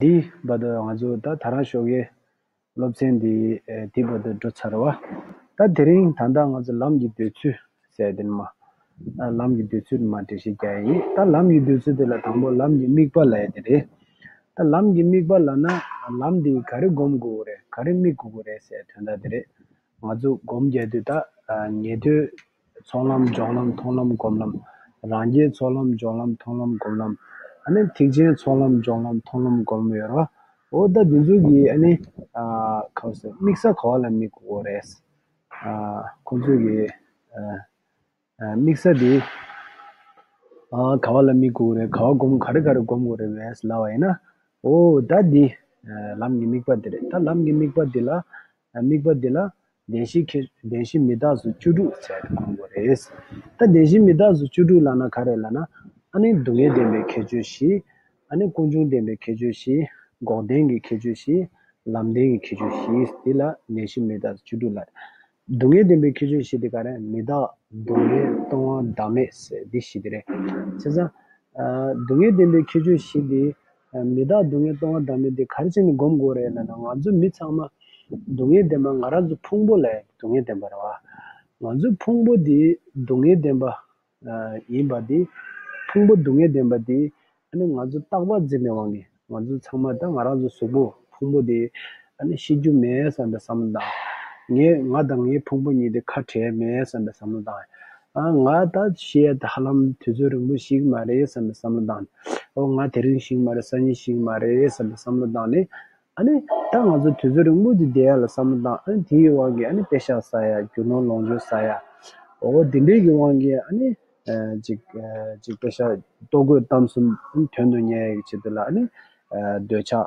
འདི་བར་དུ་ང་ཚོ་ད་ད་རང་ཤོག་གི་སློབ་ཚན་འདི་འདི་བར་དུ་འགྲོ་ཚར་བ། ད་དེ་རིང་ད་ལྟ་ང་ཚོ་ལམ་གྱི་འདོད་ཚུལ་ཟེར་དེ་ནི་མ། ལམ་གྱི་འདོད་ཚུལ་ནི་མ་འབྲི་ཤེས་རྒྱ་ཡིན། ད་ལམ་གྱི་འདོད་ཚུལ་དེ་ལ་དང་པོ་ལམ་གྱི་དམིགས་པ་ལ་ཡ་དེ་རེད། ད་ལམ་གྱི་དམིགས་པ་ལ་ན་ལམ་འདི་ག་རེ་སྒོམ་དགོས་རེད་ག་རེ་དམིགས་དགོས་རེད་ཟེར་དོན་ད་དེ་རེད། ང་ཚོ་སྒོམ་རྒྱག་དུས་ད་ངེས་དོན་ཚོགས་ལམ་སྦྱོང་ལམ་མཐོང་ལམ་སྒོམ་ལམ། རང་རྒྱལ་ཚོགས་ལམ་སྦྱོང་ལམ་མཐོང་ལམ་སྒོམ་ལམ། ཨ་ནི་ཐེག་ཆེན་ཚོགས་ལམ་སྦྱོང་ལམ་མཐོང་ལམ་སྒོམ་ཡོད་རོ། འོ་ད་དེ་ཚོ་གི་ཨ་ནི། ཁ་བསོད་དམིགས་ས་གོ་བ་ལ་མི་གོ་རེད། ཁོང་ཚོས་གི། དམིགས་ས་དེ། ག་བ་ལ་མི་གོ་རེད་ག་བ་སྒོམ་ག་རེ་ག་རེ་སྒོམ་དགོས་རེད་བས་ལབ་བ་ཡིན་ན། འོ་ད་དེ། ལམ་གྱི་དམིགས་པ་དེ་རེད་ད་ལམ་གྱི་དམིགས་པ་དེ་ལ། དམིགས་པ་འདི་ལ་བདེན་བཞི་ཁེ་བདེན་བཞི་མི་རྟག་སུ་བཅུ་དྲུག་ཟེར་དུ་དགོས་མགོ་རེད། ད་བདེན་བཞི་མི་རྟག་སུ་བཅུ་དྲུག་ལགས་ན་ག་རེད་ལགས་ན། ཨ་ནི་སྡུག་བསྔལ་བདེན་པའི་ཁྱད་ཆོས་བཞི། ཨ་ནི་ཀུན་འབྱུང་བདེན་པའི་ཁྱད་ཆོས་བཞི། འགོག་བདེན་གྱི་ཁྱད་ཆོས་བཞི། ལམ་བདེན་གྱི་ཁྱད་ཆོས་བཞི་འདི་ལ་བདེན་བཞི་མི་རྟག་སུ་བཅུ་དྲུག་ལགས། སྡུག་བསྔལ་བདེན་པའི་ཁྱད་ཆོས་བཞི་དེ་ག་རེད་མི་རྟག་སྡུག་བསྔལ་སྟོང་བ་བདག་མེད་ཟེར་འདི་བཞི་དེ་རེད། བྱས་ཙང། སྡུག་བསྔལ་བདེན་པའི་ཁྱད་ཆོས་བཞི་འདི། མི་བདག་སྡུག་བསྔལ་གཏོང་བ་བདག་མེད་དེ་ག་རེ་བྱས་ནས་སྒོམ་དགོས་རེད་ལ་ན་ང་ཚོ་མི་ཚང་མ་སྡུག་བསྔལ་ལྡན་པ་ང་རང་ཚོ་ཕུང་པོ་ལས་སྡུག་བསྔལ་ལྡན་པ་རེད་བ། ང་ཚོའི་ཕུང་པོ་དེ་སྡུག་བསྔལ་ལྡན་པ་ཡིན་པ་དེ། ཕུང་པོ་སྡུག་བསྔལ་ལྡན་པ་དེ། ཨ་ནི་ང་ཚོ་རྟག་པར་འཛིན་པའི་དབང་གིས་ང་ཚོ་ཚང་མ་ད་ང་རང་ཚོ་གཟུགས་པོ་ཕུང་པོ་དེ་ཨ་ནི་ཤི་རྒྱུ་མེད་བསམ་པའི་བསམ་བློ་དང། ངས་ང་དང་ངའི་ཕུང་པོ་གཉིས་དེ་ཁ་བྲལ་མེད་བསམ་པའི་བསམ་བློ་དང། ང་ད་བཤད་ཧ་ལམ་དུས་ཚོད་རིང་པོ་ཞིག་མ་རེད་བསམ་པའི་བསམ་བློ་བཏང། ཨོ་ང་དེ་རིང་ཞིག་མ་རེད་སང་ཉིན་ཞིག་མ་རེད་བསམ་པའི་བསམ་བློ་བཏང་ནས། ཨ་ནི་ད་ང་ཚོ་དུས་ཚོད་རིང་པོ་ཞིག་བསྡད་ཡ་ལ་བསམ་བློ་བཏང་ཨ་ནི་དེའི་དབང་གིས་ཨ་ནི་དཔེ་ཤག་ཟ་ཡ་རྒྱུ་ནོར་ལོངས་སྤྱོད་ཟ་ཡ། ཨོ་དེ་འདྲའི་གི་དབང་གིས་ཨ་ནི། ཅིག་ཅིག་དཔེ་ཤག་ལྟོ་གོས་གཏམ་གསུམ་དོན་དུ་ཉེ་ཡ་གི་ཆེད་དུ་ལ་ཨ་ནི། འདོད་ཆགས།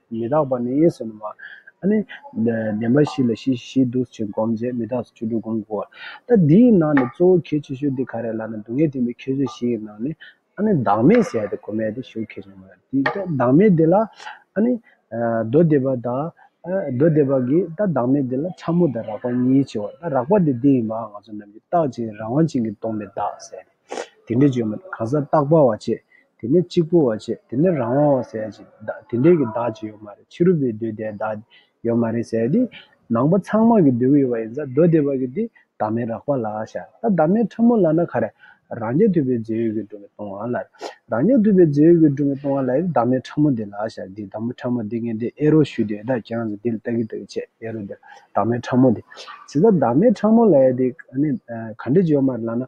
མི་རྟག་པ་ནི་ཡེ་ཟོན་ནོ། བ་ཨ་ནི། བདེན་པ་བཞི་ལ་ཞི་བཞི་འདུ་བྱེད་བསྒོམ་བྱེད་མི་རྟག་སོ་བཅུ་དྲུག་བསྒོམ་དགོས། ད་འདིའི་ནང་ནས་གཙོ་བོ་གལ་ཆེ་ཤོས་འདི་ག་རེད་ལགས་ན་སྡུག་བསྔལ་འཐིམ་པའི་ཁྱད་ཆོས་བཞི་ཡི་ནང་ནས་ཨ་ནི་བདག་མེད་ཟེར་ཡ་དེ་གོ་མེད་དེ་ཞུགས་ཁེ་ཆེན་མོ་རེད། ད་བདག་མེད་འདི་ལ་ཨ་ནི། མདོ་སྡེ་པ་དང། མདོ་སྡེ་པ་གིས་ད་བདག་མེད་འདི་ལ་ཕྲ་མོ་དང་རགས་པ་གཉིས་ཆེའོ། ད་རགས་པ་དེ་འདི་ཡིན་པའང་ང་ཚོ་རྣམས་ཀྱིས་རྟག་ཅིང་རང་དབང་ཅན་གྱི་སྟོང་པའི་བདག་ཟེར། དེ་འདྲའི་བཅོས་མ་གང་ཟག་རྟག་པ་བ་ཆེ། དེ་ནས་གཅིག་པུ་བ་ཆེ། དེ་ནས་རང་དབང་བ་ཟེར་ཡང་ཅི། དེ་འདྲའི་གི་བདག་ཅི་ཡོད་མ་རེད་ཕྱི་རུ་བའི་མདོའི་དེའི་བདག་དེ་ཡོད་མ་རེད་ཟེར་ཏེ། ནང་པ་ཚང་མ་གི་མདོའི་གི་ཡོད་པ་ཡིན་ཙང་མདོ་སྡེ་པ་གི་དེ་བདག་མེད་རགས་པ་ལ་ཤ་ད་བདག་མེད་ཕྲ་མོ་ལ་ན་ག་རེ། རང་རྐྱ་ཐུབ་པའི་རྫས་ཡོད་གི་འགྲོ་མི་གཏོང་བ་ལ་རེད། རང་རྐྱ་ཐུབ་པའི་རྫས་ཡོད་གི་འགྲོ་མི་གཏོང་བ་ལ་ཡི་བདག་མེད་ཕྲ་མོ་དེ་ལ་ཤ་དེ་བདག་མེད་ཕྲ་མོ་དེ་ངས་དེ་ཨེ་རོགས་ཞུས་དེ་ད་གྱ་ངས་དེ་ལ་ལྟ་གི་ལྟ་གི་བྱས་ཨེ་རོགས་དེ་བདག་མེད་ཕྲ་མོ་དེ། ཟེར་ཙང་བདག་མེད་ཕྲ་མོ་ལ་ཡི་དེ་ག་ནས་ག་འདྲའི་བཅོས་མ་རེད་ལ་ན།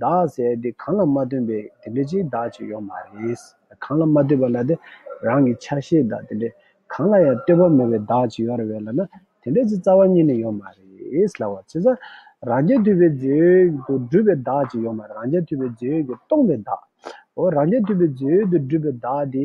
བདག་ཟེར་དེ་གང་ལ་མ་བསྟུན་པའི་དེ་འདྲ་ཅིག་བདག་ཅིག་ཡོད་མ་རེད། གང་ལ་མ་བསྟུན་པ་ལ་དེ་རང་གི་ཆ་ཤས་བདག་དེ་འདྲའི་གང་ལ་ཡང་བསྟུན་པ་མེད་པའི་བདག་ཅིག་ཡོད་རེ་བས་ལ་ན་དེ་འདྲ་ཅིག་རྩ་བ་ཉིད་ནས་ཡོད་མ་རེད་ལ། བྱེད་རྩ་རང་རྐྱ་འཐུས་པའི་མཛོད་དུ་སྒྲུབ་པའི་བདག་ཅིག་ཡོད་མ་རེད་རང་རྐྱ་འཐུས་པའི་མཛོད་ཀྱིས་སྟོང་པའི་བདག། འོ་རང་རྐྱ་འཐུས་པའི་མཛོད་དུ་སྒྲུབ་པའི་བདག་དེ་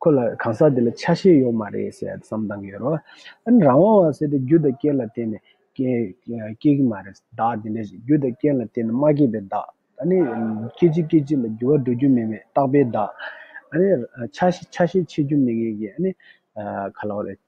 ཁོ་ལ་གང་ཟག་དེ་ལ་ཆ་ཤས་ཡོད་མ་རེད་ཟེར་བསམ་བཏང་གི་ཡོད་རེད། ཨཱ་རང་དབང་བ་ཟེར་དེ་རྒྱུ་དང་རྐྱེན་ལ་བརྟེན་ནས་སྐྱེས་སྐྱེས་ཀྱི་མ་རེད། བདག་དེ་འདྲའི་རྒྱུ་དང་རྐྱེན་ལ་བརྟེན་ནས་མ་སྐྱེས་པའི་བདག། ད་ནི་སྐྱེ་འཆི་སྐྱེ་འཆི་ལ་འགྱུར་བ་འགྲོ་རྒྱུ་མེད་མེད་རྟག་པའི་བདག། ཨཱ་ནི་ཆ་ཤས་ཆ་ཤས་ཕྱེད་རྒྱུ་མེད་མཁན་གྱི་ཨཱ་ནི་ག་ལ་བ་རེད།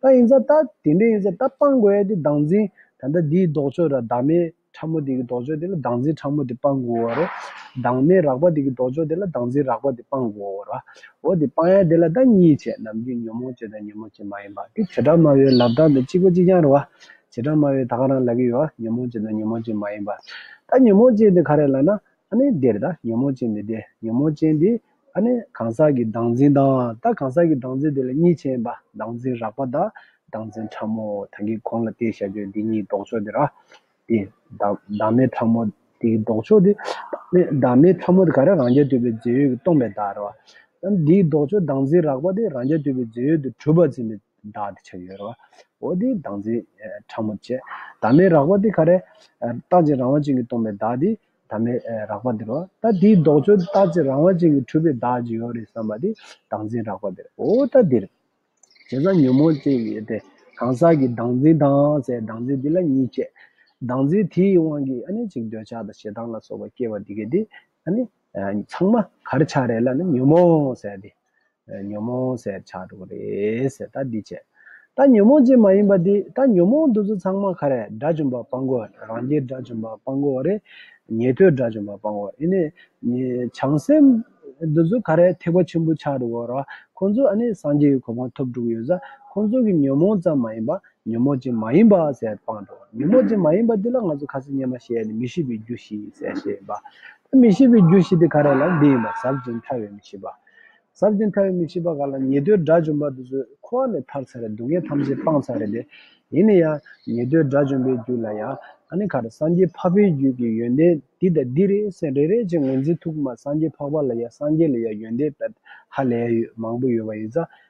ད་ཡིན་ཙང་ད་དེ་འདྲ་ཡིན་ཙང་ད་སྤང་དགོས་ཡ་དེ་བདག་འཛིན་ད་ལྟ་འདིའི་ལྡོག་ཕྱོགས་དང་བདག་མེད་ཕྲ་མོ་དེ་གི་ལྡོག་ཕྱོགས་དེ་ལ་བདག་འཛིན་ཕྲ་མོ་དེ་སྤང་དགོས་བ་རེད། བདག་མེད་རགས་པ་དེ་གི་ལྡོག་ཕྱོགས་དེ་ལ་བདག་འཛིན་རགས་པ་དེ་སྤང་དགོས་བ་རེད། འོ་དེ་སྤང་ཡ་དེ་ལ་ད་གཉིས་བྱས་ནམ་རྒྱུན་ཉོན་མོངས་བྱེད་དང་ཉོན་མོངས་བྱེད་མ་ཡིན་པ་དེ་བྱེ་བྲག་སྨྲ་བའི་ལབ་སྟངས་དང་གཅིག་པ་གཅིག་རྐྱང་རེད་བ། བྱེ་བྲག་སྨྲ་བའི་ད་ག་རང་ལབ་ཀྱི་ཡོད་བ་ཉོན་མོངས་བྱེད་དང་ཉོན་མོངས་བྱེད་མ་ཡིན་པ། ད་ཉོན་མོངས་བྱེད་དེ་ག་རེད་ལབ་ན་ཨ་ནེ་འདིར་ད་ཉོན་མོངས་ཅན་མི་བདེ་ཉོན་མོངས་ཅན་འདི་ཨ་ནེ་གང་ཟག་གི་བདག་འཛིན་དང་ད་གང་ཟག་གི་བདག་འཛིན་དེ་ལ་གཉིས་ཆེན་པ་བདག་འཛིན་རགས་པ་དང་བདག་འཛིན་ཕྲ་མོ་ད་གི་གོང་ལ་བལྟས་ཞག་བརྗོད་འདི་གཉིས་ལྡོག་ཕྱོགས་འདི་ར་དེ་བདག་མེད་ཕྲ་མོ་དེ་ལྡོག་ཕྱོགས་འདི་བདག་མེད་ཕྲ་མོ་དེ་ག་རེ་རང་རྒྱལ་དུལ་བའི་རྫས་ཡོད་ཀྱི་སྟོང་པའི་བདག་རེད་བ། ཨཱ་འདིའི་ལྡོག་ཕྱོགས་བདག་འཛིན་རགས་པ་དེ་རང་རྒྱལ་དུལ་བའི་རྫས་ཡོད་དུ་གྲུབ་པར་འཛིན་པའི་བདག་དེ་ཆགས་ཡོད་རེད་བ། འོ་དེ་བདག་འཛིན་ཕྲ་མོ་བཅས་བདག་མེད་རགས་པ་དེ་ག་རེ། རྟག་ཅིང་རང་དབང་ཅན་གྱི་སྟོང་པའི་བདག་དེ་ད་མེད་རགས་པ་འདིར་བ། ད་དེའི་ལྡོག་ཆོས་ལྟ་ཅི་རང་བ་ཅན་གྱི་འཁྲུལ་པའི་བདག་ཅིག་ཡོད་རེད་བསམ་པ་དེ་བདག་འཛིན་རགས་པ་འདིར་འོ། ད་འདིར་བྱས་ཙང་ཉོན་མོངས་ཅན་ཡོད་དེ། གང་ཟག་གི་བདག་འཛིན་དང་སའི་བདག་འཛིན་འདི་ལ་གཉིས་བསྐྱེད། བདག་འཛིན་དེའི་དབང་གིས་ཨ་ནི་ཅིག་འདོད་ཆགས་དང་ཞེ་སྡང་ལ་སོགས་པ་སྐྱེ་བ་འདི་གས་དེ། ཨ་ནི། ཚང་མ་གར་ཆགས་རེད་ལ་ནི་ཉོན་མོངས་སའི་དེ། ཉོན་མོངས་ཟད་བྱ་སྒྲོ་གུ་རེས་ད་འདི་བྱས། ད་ཉོན་མོངས་ཅན་མ་ཡིན་པ་འདི་ད་ཉོན་མོངས་འདུ་ཚོད་ཚང་མ་ཁ་རས་དགྲ་བཅོམ་པ་སྤང་གོ་རང་རྒྱལ་དགྲ་བཅོམ་པ་སྤང་གོ་རེ་ཉན་ཐོས་དགྲ་བཅོམ་པ་སྤང་གོ་ཨེ་ནས་བྱང་སེམས་འདུ་ཚོད་ཁ་རས་ཐེག་པ་ཆེན་པོ་ཆགས་འགྲོ་གོ་ར་ཁོང་ཚོ་ཨ་ནས་སངས་རྒྱས་ཀྱི་གོ་འཕང་ཐོབ་འགྲོ་གི་ཡོད་ས་ཁོང་ཚོ་གི་ཉོན་མོངས་ཙམ་མ་ཡིན་པ་ཉོན་མོངས་ཅན་མ་ཡིན་པ་ཟད་སྤང་འགྲོ་ཉོན་མོངས་ཅན་མ་ཡིན་པ་འདི་ལ་ང་ཚོ་ཁ་ཟས་སྙན་མ་ཤེས་ནས་མི་ཤེས་པའི་རྒྱུ་ཞིག་ཟས་ཤེས་པ། ད་མི་ཤེས་པའི་རྒྱུ་ཞིག་དེ་ཁ་རས་ལ་འདི་ཡིན་པ་ཟབ་ཅིང་ཐར་བའི་མི་ཤེས་པ། ཟབ་ཅིང་ཕྲ་བའི་མི་ཤེས་པ་ག་ལ་ཉེ་དུའི་དགྲ་བཅོམ་པ་དེ་ཚོས་ཁོ་བ་ནས་ཐར་ཚར་རེད་སྡུག་བསྔལ་ཐམས་ཅད་སྤངས་ཚར་རེད་དེ། ཡིན་ན་ཡང་ཉེ་དུའི་དགྲ་བཅོམ་པའི་རྒྱུད་ལ་ཡང་ཨ་ནེ་ག་རེ་སངས་རྒྱས་འཕགས་པའི་རྒྱུད་ཀྱི་ཡོན་ཏན་འདི་དང་འདི་རེད་སེམས་རེ་རེ་ཅིག་ངོས་འཛིན་ཐུབ་ཀི་མ་སངས་རྒྱས་འཕགས་པ་ལ་ཡང་སངས་རྒྱས་ལ་ཡང་ཡོན་ཏན་བལ་ཧ་ལས་མང་པོ་ཡོད་པ་ཡིན་ས་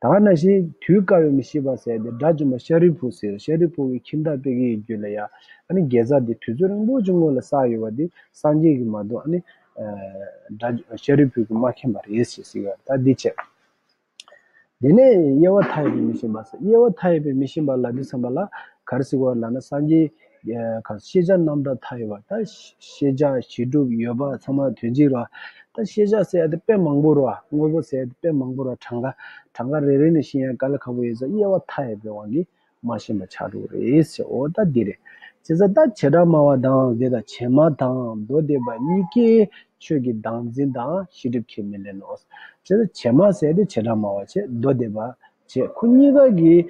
ད་ང་ན་ཤི། དུས་བཀག་ཡོད་མི་ཤི་བར་ཟད་དེ་དགྲ་བཅོམ་པ་ཤཱ་རིའི་བུ་ཟེར་ཤཱ་རིའི་བུ་འི་ཁྱིམ་བདག་དཔེ་གིའི་རྒྱུད་ལ་ཡ། ཨ་ནི་རྒྱལ་ཚབ་དེ་དུས་ཚོད་རིང་པོ་ཅིག་སྔོན་ལ་བསགས་ཡོད་པ་དེ་སངས་རྒྱས་ཀྱི་མ་གཏོགས་ཨ་ནི། དགྲ། ཤཱ་རིའི་བུ་གིས་མ་མཁྱེན་པ་རེད་ཞེས་གསུངས་ཡོད་ད་འདི་ཆད། དེ་ནས་དབྱེ་བ་མཐའ་ཡས་པའི་མི་ཤི་བར་ཟད་དབྱེ་བ་མཐའ་ཡས་པའི་མི་ཤི་བར་ལ་འདི་བསམ་པ་ལ་གར་སིག་བར་ལ་ན་སངས་རྒྱས། ཤེས་བྱ་རྣམ་དག་མཐའ་ཡས་པ། ད་ཤེས་བྱ་བྱིས་གྲུབ་ཡོད་པ་ཚང་མ་དོན་གཅིག་རོ། ད་ཤེས་བྱ་ཟེར་ཡ་དེ་དཔེ་མང་པོ་རོ། དངོས་པོ་ཟེར་ཡ་དེ་དཔེ་མང་པོ་རོ་གྲངས་ཀ་གྲངས་ཀ་རེ་རེ་ནས་ཤེས་ཡ་ག་ལ་ཁག་པོ་ཡོད་ས་དབྱེ་བ་མཐའ་ཡས་པའི་དབང་གིས་མ་ཤེས་པ་ཆགས་འགྲོ་རེད་ཟེར་འོ་ད་འདི་རེད། བྱས་ཙང་ད་བྱེ་བྲག་སྨྲ་བ་དང་དེ་དང་བྱེ་སྨྲ་དང་མདོ་སྡེ་པ་གཉིས་ཀས་ཆོས་ཀྱི་བདག་འཛིན་དང་ཤེས་སྒྲིབ་ཁས་མི་ལེན་ནོ། བྱས་ཙང་བྱེ་སྨྲ་ཟེར་ཡ་དེ་བྱེ་བྲག་སྨྲ་བ་བྱེད་མདོ་སྡེ་པ་བྱེད། ཁོ་གཉིས་ཀ་གིས་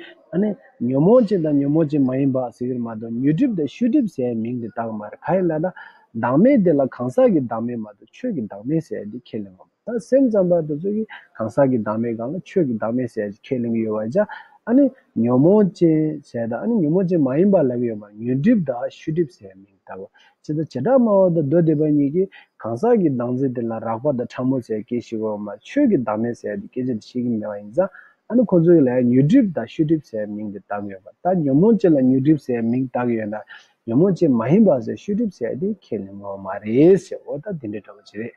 ཉོན་མོངས་ཅན་དང་ཉོན་མོངས་ཅན་མ་ཡིན་པ་ཟེར་གྱིར་མ་གཏོགས་ཉོས་སྒྲིབ་དང་བཤུས་སྒྲིབ་ཟེར་ཡའི་མིང་དེ་བཏགས་མ་རེད་ག་ཡིན་ལ་ད། བདག་མེད་དེ་ལ་གང་ཟག་གི་བདག་མེད་མ་གཏོགས་ཆོས་ཀྱི་བདག་མེད་ཟེར་ཡ་དེ་ཁས་ལེན་ངོ། ད་སེམས་ཙམ་པ་དེ་ཚོ་གིས་གང་ཟག་གི་བདག་མེད་གང་ལ་ཆོས་ཀྱི་བདག་མེད་ཟེར་ཡ་ཞེས་ཁས་ལེན་གྱི་ཡོད་བ་ཅག་ཉོན་མོངས་ཅན་ཟེར་དང་ཉོན་མོངས་ཅན་མ་ཡིན་པ་ལབ་ཡོད་མ་རེད་ཉོས་སྒྲིབ་དང་བཤུས་སྒྲིབ་ཟེར་ཡའི་མིང། ལྟ་བུ། ཇི་ལྟར་བྱེ་བྲག་སྨྲ་བ་དང་མདོ་སྡེ་པ་གཉིས་ཀྱིས་གང་ཟག་གི་བདག་འཛིན་དེ་ལ་རགས་པ་དང་ཕྲ་མོ་ཟད་སྐད་ཤེས་དགོས་པ་མ་ཆོས་ཀྱི་བདག་མེད་ཟད་ཡ་དེ་སྐད་ཅེས་དེ་ཤེས་ཀྱི་མེད་པ་ཡིན་ཙང་ཨ་ནི་ཁོ་ཚོ་ཡིད་ལ་ཡང་མྱུར་འགྲིབ་དང་ཤུལ་འགྲིབ་ཟད་ཡའི་མིང་དེ་བཏགས་ཡོད་པ་ལྟར་ཉོན་མོངས་ཅན་ལ་མྱུར་འགྲིབ་ཟད་ཡའི་མིང་བཏགས་ཡོད་ན་ཉོན་མོངས་ཅན་མ་ཡིན་པ་ཟད་ཤུལ་འགྲིབ་ཟད་ཡ་དེ་ཁས་ལེན་ངོ་མ་རེད་ཟེར་འོ་ད་དེ་འདྲའི་འདྲ་པོ་ཅི་རེད།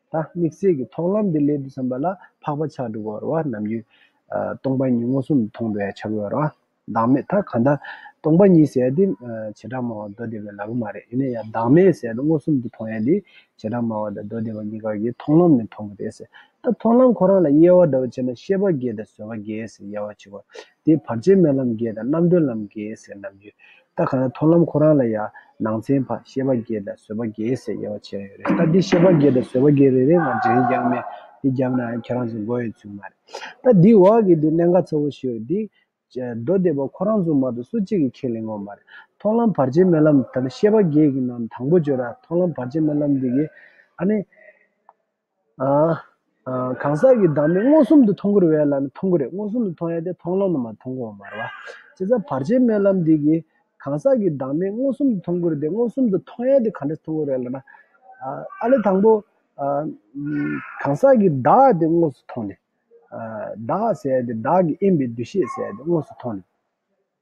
ད་དམིགས་བསལ་གྱི་མཐོང་ལམ་འདི་སླད་དུ་བསམ་པ་ལ་འཕགས་པ་ཆགས་འགྲོ་བར་བ་རྣམས་རྒྱུ། སྟོང་པ་ཉིད་མངོན་སུམ་དུ་མཐོང་བའི་ཆ་བོར་བ། བདག་མེད་ད་ག་ད། སྟོང་པ་ཉིད་ཟད་དེ། བྱེ་བྲག་སྨྲ་བ་མདོ་སྡེ་པའི་ལག་ལུང་མ་རེད་ཡིན་ན་ཡང་བདག་མེད་ཟད་དེ་མངོན་སུམ་དུ་མཐོང་ཡ་འདི་བྱེ་བྲག་སྨྲ་བ་དང་མདོ་སྡེ་པ་གཉིས་ཀར་གྱི་མཐོང་ལམ་ནས་མཐོང་གི་རེད། ད་མཐོང་ལམ་ཁོ་རང་ལ་དབྱེ་བ་འདྲ་བོ་བྱས་ན་ཤེས་པ་འགལ་དང་བཟོད་པ་འགལ་ཟེར་ཡ་བ་ཆེ་བ་དེའི་བར་ཆད་རྨི་ལམ་བརྒྱད་དང་རྣམ་གྲོལ་ལམ་བརྒྱད་ཟེར་ནམ་ཡོད། ལྟ་ག་ན་མཐོང་ལམ་ཁོ་རང་ལ་ཡང་ནང་ཚན་བར་ཤེས་པ་བརྒྱད་དང་བཟོད་པ་བརྒྱད་ཟེར་དབྱེ་བ་ཕྱེ་རན་ཡོད་རེད་ལྟ་འདི་ཤེས་པ་བརྒྱད་དང་བཟོད་པ་བརྒྱད་རེ་རེ་ང་འདྲེན་རྐྱང་མེད་འདི་རྒྱབ་ན་ཡང་ཁྱེད་རང་ཚོ་འགོ་ཡོད་ཚོད་མ་རེད། ལྟ་འདིའི་འོག་གི་འདི་གནད་འགག་ཚ་བོ་ཞིག་རེད་འདི། མདོ་སྡེ་པ་ཁོ་རང་ཚོ་མ་གཏོགས་སུ་གཅིག་གིས་ཁས་ལེན་ངོ་མ་རེད། མཐོང་ལམ་བར་ཆད་རྨི་ལམ་དང་ཤེས་པ་བརྒྱད་ཀྱི་ནང་དང་པོ་བརྗོད་ན་མཐོང་ལམ་བར་ཆད་རྨི་ལམ་འདི་གིས་ཨ་ནི། གང་ཟག་གི་བདག་མེད་མངོན་སུམ་དུ་མཐོང་ཁུར་བས་ལ་ནི་མཐོང་ཁུར་རེད་མངོན་སུམ་དུ་མཐོང་ཡ་དེ་མཐོང་ལམ་ན་མ་མཐོང་གོང་མར་བ། ཅེས་སམ་བར་ཆད་མེད་ལམ་འདི་གིས། གང་ཟག་གི་བདག་མེད་མངོན་སུམ་དུ་མཐོང་ཁུར་དེ་མངོན་སུམ་དུ་མཐོང་ཡ་དེ་གང་འདྲ་མཐོང་ཁུར་རེད་ལ་ན། ཨ་ལས་དང་པོ། གང་ཟག་གི་བདག་དེ་དངོས་སུ་མཐོང་ནས། བདག་ཟེར་ཡ་དེ་བདག་གི་དབྱེན་པའི་འདུ་ཤེས་ཟེར་ཡ་དེ་དངོས་སུ་མཐོང་ནས།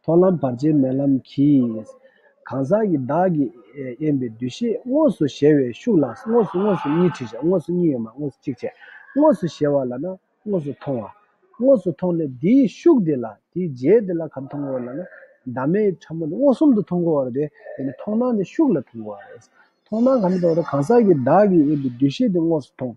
མཐོང་ལམ་བར་ཆད་མེད་ལམ་གྱིས། གང་ཟག་གི་བདག་གིས་དབྱེན་པའི་འདུ་ཤེས་དངོས་སུ་གཞལ་བའི་ཤུགས་ལ་དངོས་སུ་དངོས་སུ་གཉིས་ཁྲིད་བྱ་དངོས་སུ་གཉིས་ཡོད་མ་དངོས་སུ་གཅིག་བྱེད། དངོས་སུ་གཞལ་བ་ལ་ན་དངོས་སུ་མཐོང་བ། དངོས་སུ་མཐོང་ནས་དེའི་ཤུགས་དེ་ལ་དེའི་རྗེས་དེ་ལ་གམ་མཐོང་བ་ལ་ན་བདག་མེད་ཕྲ་མོ་ནི་མངོན་སུམ་དུ་མཐོང་གོ་བ་རེད། དེ་ནི་མཐོང་སྣང་དེ་ཤུགས་ལ་མཐོང་གོ་བ་རེད། མཐོང་སྣང་གང་གིས་མཐོང་བ་དང་གང་ཟག་གི་བདག་གིས་དབྱེན་པའི་འདུ་ཤེས་དེ་དངོས་སུ་མཐོང།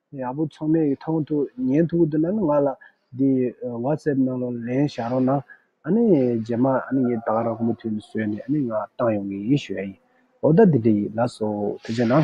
ཡག་པོ་ཚང་མས་མཐོང་ཐུག་ཉན་ཐུག་འདི་ན་ནི་ང་ལ་འདི WhatsApp ནང་ལ་ལན་བཞག་རོགས་གནང་ཨ་ནི་རྗེས་མ་ཨ་ནི་ངས་ད་ག་རང་ཁོ་མོ་ཐུག་ནས་བཟོས་ནས་ཨ་ནི་ང་བཏང་ཡོང་གི་ཡིན་ཞུ་ཡ་ཡིན་འོ་ད་འདི་འདྲ་ཡིན་ལགས་སོ་དེ་ཅན་ན།